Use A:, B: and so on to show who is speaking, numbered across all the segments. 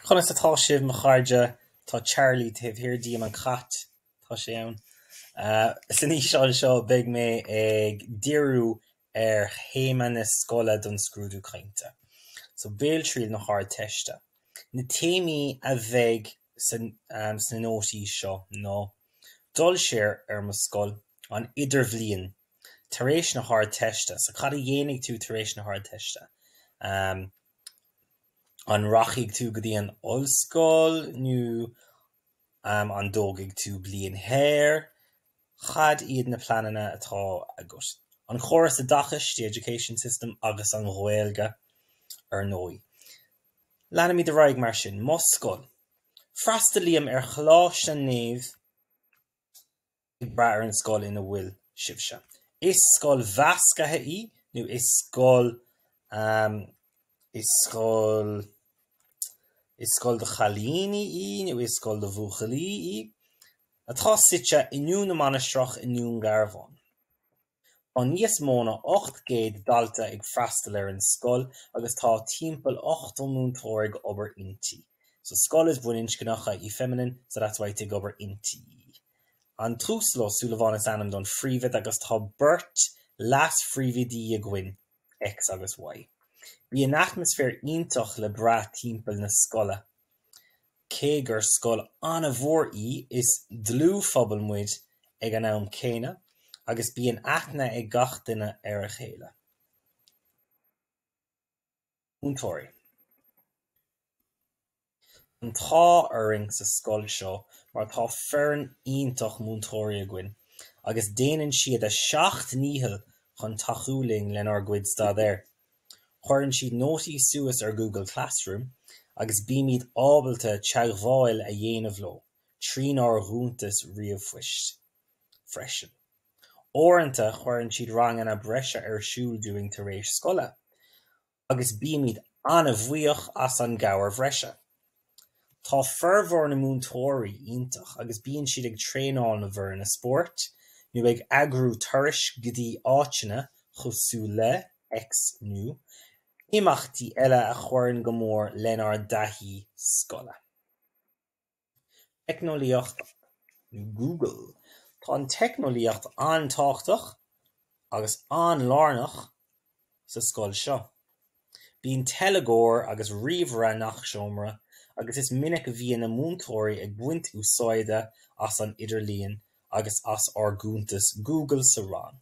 A: Conas atá sibh, mo chairde? Tá Charlie taobh thiar díom, an cat, tá sé ann. San fhíseán seo, beidh mé ag díriú ar théama na scoile don scrúdú cainte, so, Béaltriail na hArdteiste. Na téamaí a bheidh sna nótaí seo ná, Dul siar ar Mo scoil, an Idirbhliain, tar éis na hArdteiste. So cad a dhéanfaidh tú tar éis na hArdteiste? An rachaidh tú go dtí an ollscoil nó an dtógfaidh tú bliain shaor? Cad iad na pleananna atá agat? An córas oideachais, the education system, agus an Ghaeilge ar ndóigh. Leanfaimid ar aghaidh mar sin. Mo scoil. Freastalaím ar Choláiste Naomh. ag brath ar an scoil ina bhfuil sibhse. Is scoil mheascaithe í nó is scoil, ahem, is scoil, is scoil do chailíní í nó is scoil do bhuachaillí í, atá suite i nDún na Mainistreach i nDún Garbháin. Tá níos mó ná 800 dalta ag freastal ar an scoil agus tá timpeall 80 múinteoir ag obair inti. So scoil is baininscneach í feminine so that's why it's ag obair inti. An tUasal Ó Súilleabháin is ainm don phríomhoide agus tá beirt leas-phríomhoide againn. X agus Y. Bíonn atmaisféar iontach le brath timpeall na scoile. Cé gur scoil an-mhór í, is dlúthphobal muid ag an am céanna agus bíonn aithne ag gach duine ar a chéile. Múinteoirí. Tá an t-ádh orainn sa scoil seo mar tá foireann iontach múinteoirí againn agus déanann siad a seacht ndícheall chun tacú linn lenár gcuid staidéir. Cuireann siad nótaí suas ar Google Classroom agus bímid ábalta teagmháil a dhéanamh leo trínár gcuntais ríomhphoist. freisin. Uaireanta cuireann siad ranganna breise ar siúl dúinn tar éis scoile agus bímid an-bhuíoch as an gcabhair bhreise. Tá formhór na múinteoirí iontach agus bíonn siad ag traenáil na bhfoirne spóirt nó ag eagrú turais go dtí áiteanna cosúil le X nó imeachtaí eile a chuireann go mór lenár dtaithí scoile. Teicneolaíocht Google Tá an teicneolaíocht an-tábhachtach agus an-lárnach sa scoil seo. Bíonn teilgeoir agus ríomhaire i ngach seomra agus is minic a bhíonn na múinteoirí ag baint úsáide as an idirlíon agus as ár gcuntas Google sa rang.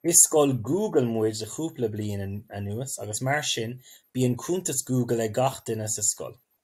A: Is scoil Google muid le cúpla bliain anuas agus mar sin bíonn cuntas Google ag gach duine sa scoil.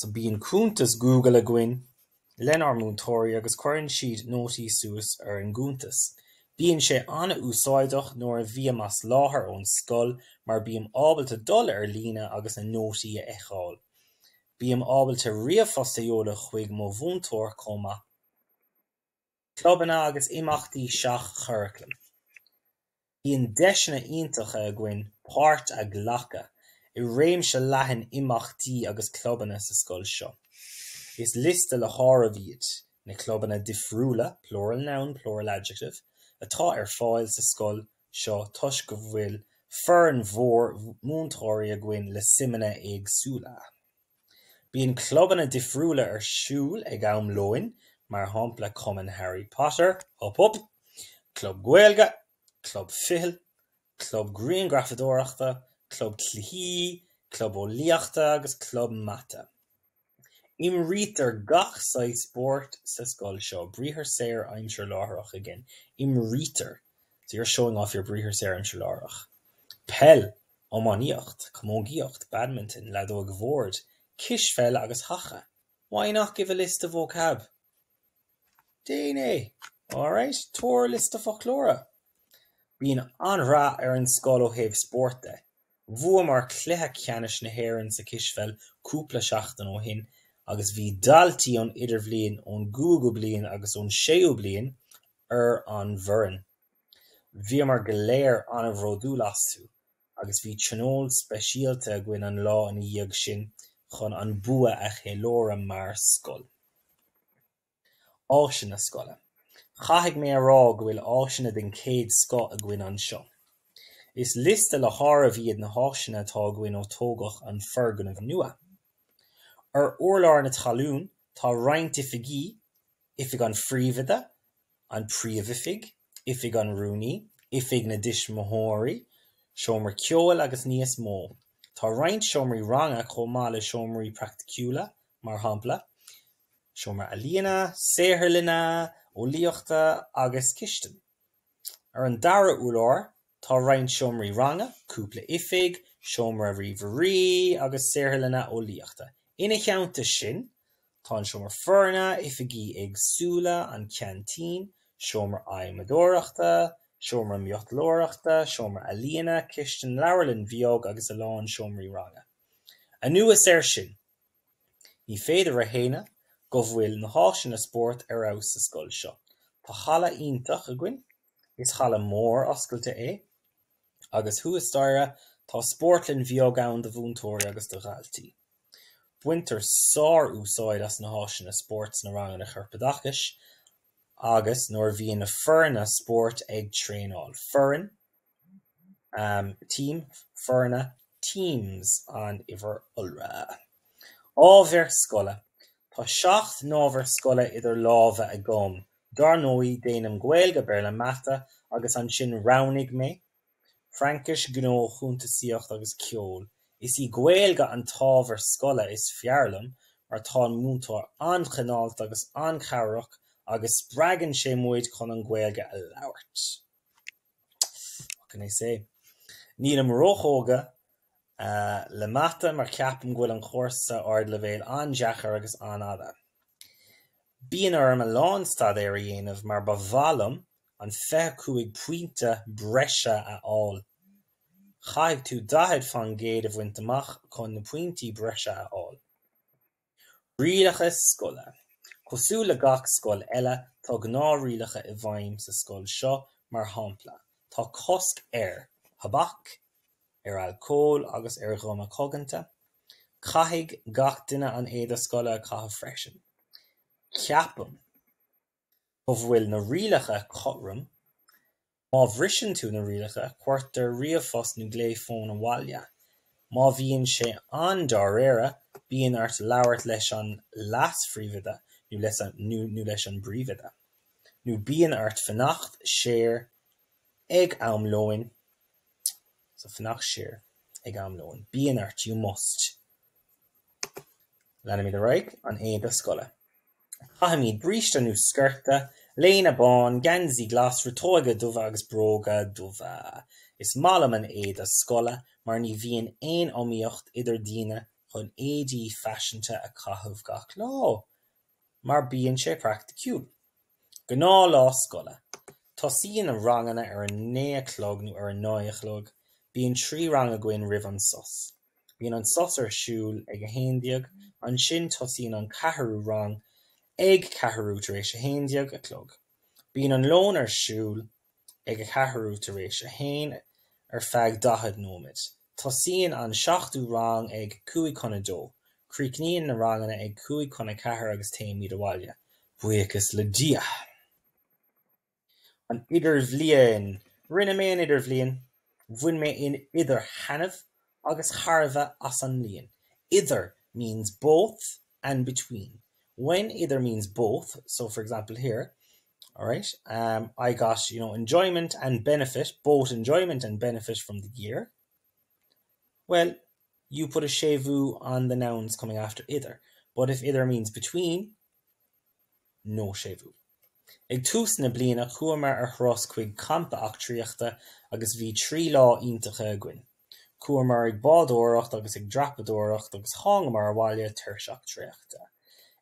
A: So bíonn cuntas Google againn lenár múinteoirí agus cuireann siad nótaí suas ar an gcuntas. Bíonn sé an-úsáideach nuair a bhím as láthair ón scoil mar bím ábalta dul ar líne agus na nótaí a fheiceáil. Bím ábalta ríomhphost a sheoladh chuig mo mhúinteoir chomh maith. Clubanna agus imeachtaí seach-churaclaim. Bíonn deiseanna iontacha againn páirt a ghlacadh i réimse leathan imeachtaí agus clubanna sa scoil seo. Is liosta le háireamh iad na clubanna difriúla, plural noun, plural adjective, atá ar fáil sa scoil seo toisc go bhfuil foireann mhór múinteoirí againn le suimeanna éagsúla. Bíonn clubanna difriúla ar siúl ag am lóin, mar shampla Cumann Harry Potter, Hup Hup, Club Gaeilge, Club Fichille, Club Grianghrafadóireachta, Club Cluichí, Club Eolaíochta agus Club Mata. Imrítear gach saghas spóirt sa scoil seo, briathar saor aimsir láithreach again, imrítear, so you're showing off your briathar saor aimsir láithreach, peil, Iománaíocht, camógaíocht, badminton, leadóg bhoird, cispheil agus haca, Why not give a list of vocab? Déan é! Alright, tabhair liosta foclóra! Bíonn an-rath ar an scoil ó thaobh spórt de. Bhuamar cluiche ceannais na hÉireann sa chispheil cúpla seachtain ó shin agus bhí daltaí ón idirbhliain, ón gcúigiú bliain agus ón séú bliain ar an bhfoireann. Bhíomar go léir an-bhródúil astu agus bhí tionól speisialta againn an lá ina dhiaidh sin chun an bua a cheiliúradh mar scoil. Áiseanna scoile, Caithfidh mé a rá go bhfuil áiseanna den chéad scoth againn anseo. Is liosta le háireamh iad na háiseanna atá againn ó tógadh an foirgneamh nua. Ar urlár na talún tá roinnt oifigí, Oifig an Phríomhoide, an Príomhoifig, Oifig an Rúnaí, Oifig na dTuismitheoirí, seomra ceoil agus níos mó. Tá roinnt seomraí ranga chomh maith le seomraí praiticiúla, mar shampla, seomra ealaíne, saotharlanna eolaíochta agus cistin. Ar an dara hurlár tá roinnt seomraí ranga, cúpla oifig, seomra ríomhairí agus saotharlanna eolaíochta. Ina theannta sin, tá an seomra foirne, oifigí éagsúla, an ceaintín, seomra adhmadóireachta, seomra miotalóireachta, seomra ealaíona, cistin, leabharlann bheag agus a lán seomraí ranga. Anuas air sin. Ní féidir a shéanadh go bhfuil na háiseanna spóirt ar fheabhas sa scoil seo. Tá halla iontach againn, is halla mór oscailte é, agus thuas staighre tá spórtlann bheag ann do mhúinteoirí agus do dhaltaí. Baintear sár-úsáid as na háiseanna spóirt sna ranganna chorpoideachais agus nuair a bhíonn na foirne spóirt ag traenáil. Foireann. Team, Foirne, Teams an uimhir iolra. Ábhair Scoile Tá seacht n-ábhar scoile idir lámha agam, dár ndóigh, déanaim Gaeilge, Béarla, Mata, agus ansin roghnaigh mé Fraincis, Gnó, Cuntasaíocht agus Ceol. Is í Gaeilge an t-ábhar scoile is fearr liom mar tá an múinteoir an-chineálta agus an-chabhrach agus spreagann sé muid chun an Ghaeilge a labhairt. What can I say? Nílim róthógtha le mata mar ceapaim go bhfuil an cúrsa ardleibhéil an-deacair agus an-fhada. Bíonn orm a lán staidéir a dhéanamh mar ba mhaith liom an 25 pointe breise a fháil. Caithfidh tú 40 faoin gcéad a bhaint amach chun na pointí breise a fháil. Rialacha Scoile. Cosúil le gach scoil eile, tá gnáthrialacha i bhfeidhm sa scoil seo, mar shampla, tá cosc ar thobac, ar alcól agus ar ghuma coganta. Caithfidh gach duine an éide scoile a chaitheamh freisin. Ceapaim. go bhfuil na rialacha cothrom, má bhriseann tú na rialacha, cuirtear ríomhphost nó glao fóin abhaile. Má bhíonn sé an-dáiríre, bíonn ort labhairt leis an leas-phríomhoide nó leis an bpríomhoide, nó bíonn ort fanacht siar ag am lóin, fanacht siar ag am lóin, bíonn ort, you must. Leanfaimid ar aghaidh, an éide scoile. Caithimid bríste nó sciorta, léine bán, geansaí glas, riteoga dubha agus bróga dubha. Is maith liom an éide scoile mar ní bhíonn aon iomaíocht idir daoine chun éadaí faiseanta a chaitheamh gach lá mar bíonn sé praiticiúil. Gnáth lá scoile. Tosaíonn na ranganna ar a naoi a chlog nó ar a naoi a chlog. Bíonn trí rang againn roimh an sos. Bíonn an sos ar siúl ag a haon déag, ansin tosaíonn an ceathrú rang ag ceathrú tar éis a haon déag a chlog. Bíonn an lón ar siúl ag a ceathrú tar éis a haon ar feadh daichead nóiméad. Tosaíonn an seachtú rang ag cúig chun a dó. Críochnaíonn na ranganna ag cúig chun a ceathair agus téimid abhaile, buíochas le Dia! An Idirbhliain Rinne mé an Idirbhliain. Bhain mé in idir thaitneamh agus thairbhe as an mbliain. Idir means both and between. When idir means both, so for example here, alright, um, I got, you know, enjoyment and benefit, both enjoyment and benefit from the year. Bhuel, you put a séimhiú on the nouns coming after idir, but if idir means between, nó séimhiú. Ag tús na bliana chuamar ar thuras chuig campa eachtraíochta agus bhí trí lá iontacha againn. Chuamar ag bádóireacht agus ag dreapadóireacht agus thángamar abhaile tuirseach traochta.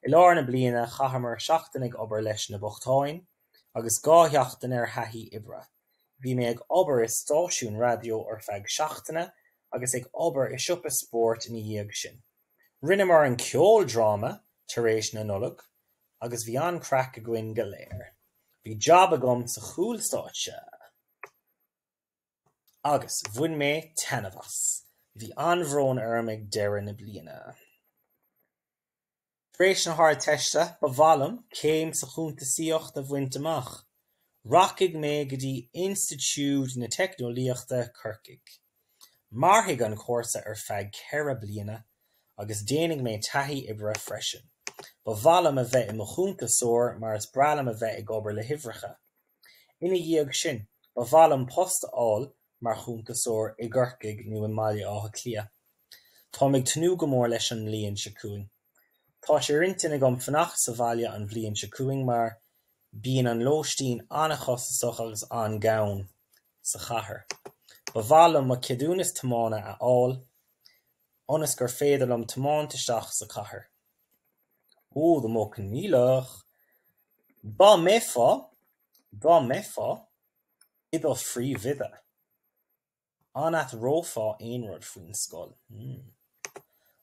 A: I lár na bliana chaitheamar seachtain ag obair leis na bochtáin agus dhá sheachtain ar thaithí oibre. Bhí mé ag obair i stáisiún raidió ar feadh seachtaine agus ag obair i siopa spóirt ina dhiaidh sin. Rinneamar an ceoldráma tar éis na Nollag agus bhí an-chraic againn go léir. Bhí jab agam sa chúlstáitse agus bhain mé taitneamh as. Bhí an-bhrón orm ag deireadh na bliana. Tar éis na hArdteiste, ba mhaith liom céim sa chuntasaíocht a bhaint amach. Rachaidh mé go dtí Institiúid na Teicneolaíochta, Corcaigh. Mairfidh an cúrsa ar feadh ceithre bliana agus déanfaidh mé taithí oibre freisin. Ba mhaith liom a bheith i mo chuntasóir mar is breá liom a bheith ag obair le huimhreacha. Ina dhiaidh sin, ba mhaith liom post a fháil mar chuntasóir i gCorcaigh nó i mBaile Átha Cliath. Táim ag tnúth go mór leis an mbliain seo chugainn. Tá sé ar intinn agam fanacht sa bhaile an bhliain seo chugainn mar bíonn an lóistín an-chostasach agus an-ghann sa chathair. Ba mhaith liom mo cheadúnas tiomána a fháil ionas gur féidir liom tiomáint isteach sa chathair. Ó, the Modh Coinníollach! Dá mbeifeá, dá mbeifeá i do phríomhoide! An athrófá aon rud faoin scoil? Hmm.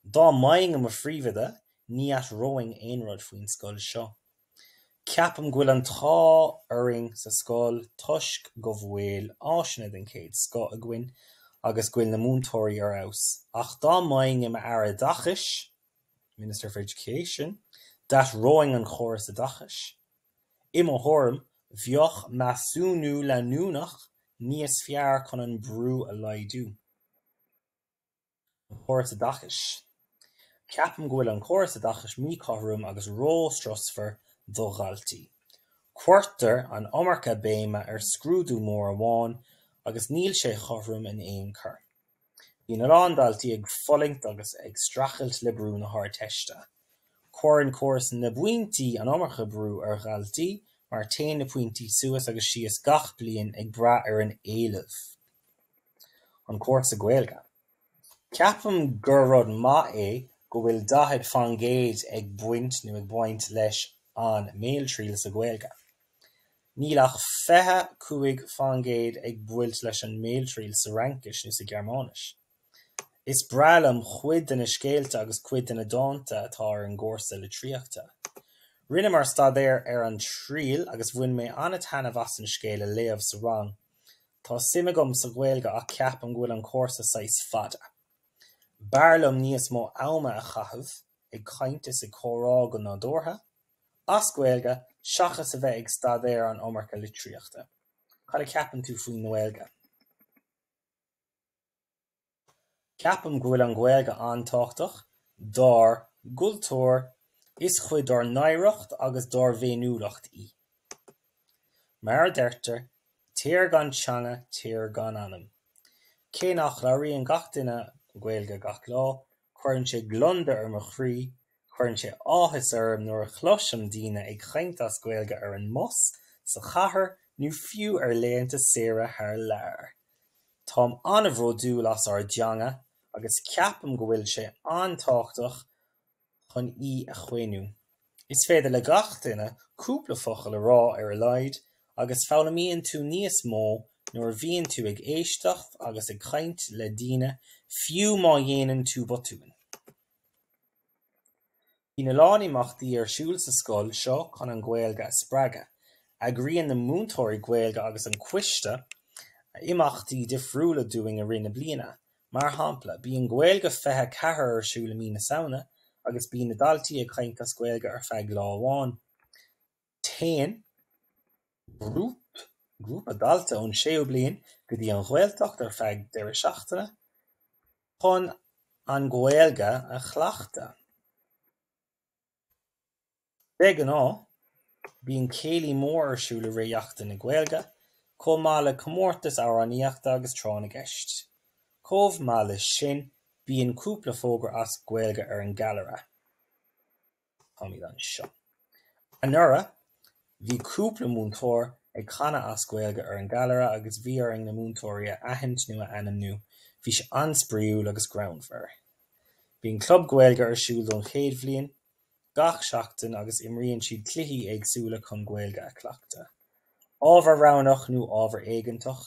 A: Dá mbeinn i mo phríomhoide, ní athróinn aon rud faoin scoil seo. Ceapaim go bhfuil an t-ádh orainn sa scoil toisc go bhfuil áiseanna den chéad scoth againn agus go bhfuil na múinteoirí ar fheabhas. Ach dá mbeinn i m'Aire Oideachais, Minister for Education, d'athróinn an córas oideachais. I mo thuairim, bheadh measúnú leanúnach níos fearr chun an brú a laghdú. An Córas Oideachais. Ceapaim go bhfuil an córas oideachais míchothrom agus ró-strusmhar do dhaltaí. Cuirtear an iomarca béime ar scrúdú mór amháin agus níl sé cothrom in aon chor. Bíonn a lán daltaí ag fulaingt agus ag streachailt le brú na hArdteiste. Cuireann córas na bpointí an iomarca brú ar dhaltaí mar téann na pointí suas agus síos gach bliain ag brath ar an éileamh. An cúrsa Gaeilge. Ceapaim gur rud maith é go bhfuil 40 faoin gcéad ag baint nó ag baint leis an mbéaltriail sa Ghaeilge. Níl ach 25 faoin gcéad ag baint leis an mbéaltriail sa Fhraincis nó sa Ghearmáinis. Is breá liom cuid de na scéalta agus cuid de na dánta atá ar an gcúrsa litríochta. Rinneamar staidéar ar An Triail agus bhain mé an-taitneamh as an scéal a léamh sa rang. Tá suim agam sa Ghaeilge ach ceapaim go bhfuil an cúrsa saghas fada. B'fhearr liom níos mó ama a chaitheamh ag caint is ag comhrá go nádúrtha. as Gaeilge seachas a bheith ag staidéar an iomarca litríochta. Cad a cheapann tú faoin nGaeilge? Ceapaim go bhfuil an Ghaeilge an-tábhachtach dár gcultúr, is cuid dár n-oidhreacht agus dár bhféiniúlacht í. Mar a deirtear, tír gan teanga, tír gan anam. Cé nach labhraíonn gach duine Gaeilge gach lá, Cuireann sé gliondar ar mo chroí, cuireann sé áthas orm nuair a chloisim daoine ag caint as Gaeilge ar an mbus, sa chathair nó fiú ar laethanta saoire thar lear. Táim an-bhródúil as ár dteanga agus ceapaim go bhfuil sé an-tábhachtach chun í a chaomhnú. Is féidir le gach duine cúpla focal a rá ar a laghad agus foghlaimíonn tú níos mó nuair a bhíonn tú ag éisteacht agus ag caint le daoine, fiú má dhéanann tú botúin. Bíonn a lán imeachtaí ar siúl sa scoil seo chun an Ghaeilge a spreagadh. Eagraíonn na múinteoirí Gaeilge agus an coiste imeachtaí difriúla dúinn i rith na bliana, Mar shampla, bíonn Gaeilge 24 ar siúl i mí na Samhna agus bíonn na daltaí ag caint as Gaeilge ar feadh lá amháin. Téann grúp grúpa dalta ón séú bliain go dtí an Ghaeltacht ar feadh deireadh seachtaine chun an Ghaeilge a chleachtadh. De ghnáth, bíonn céilí mór ar siúl i rith Sheachtain na Gaeilge, chomh maith le comórtais amhránaíochta agus tráth na gceist. Chomh maith leis sin, bíonn cúpla fógra as Gaeilge ar an gcallaire. Táimid anseo. Anuraidh, Bhí cúpla múinteoir ag canadh as Gaeilge ar an gcallaire agus bhí orainn na múinteoirí a aithint nó a ainmniú. Bhí sé an-spraoiúil agus greannmhar. Bíonn club Gaeilge ar siúl don chéad bhliain gach seachtain agus imríonn siad cluichí éagsúla chun Gaeilge a chleachtadh. Ábhar roghnach nó ábhar éigeantach?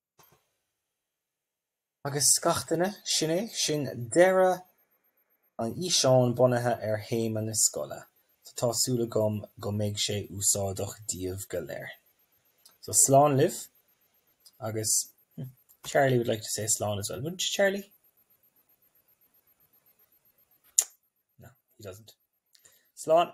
A: Agus scaifteanna, sin é sin deireadh an fhíseáin bunaithe ar théama na scoile, so tá súil agam go mbeidh sé úsáideach díobh go léir. So slán libh agus Charlie would like to say slán as well, wouldn't you Charlie? No, he doesn't. Slán!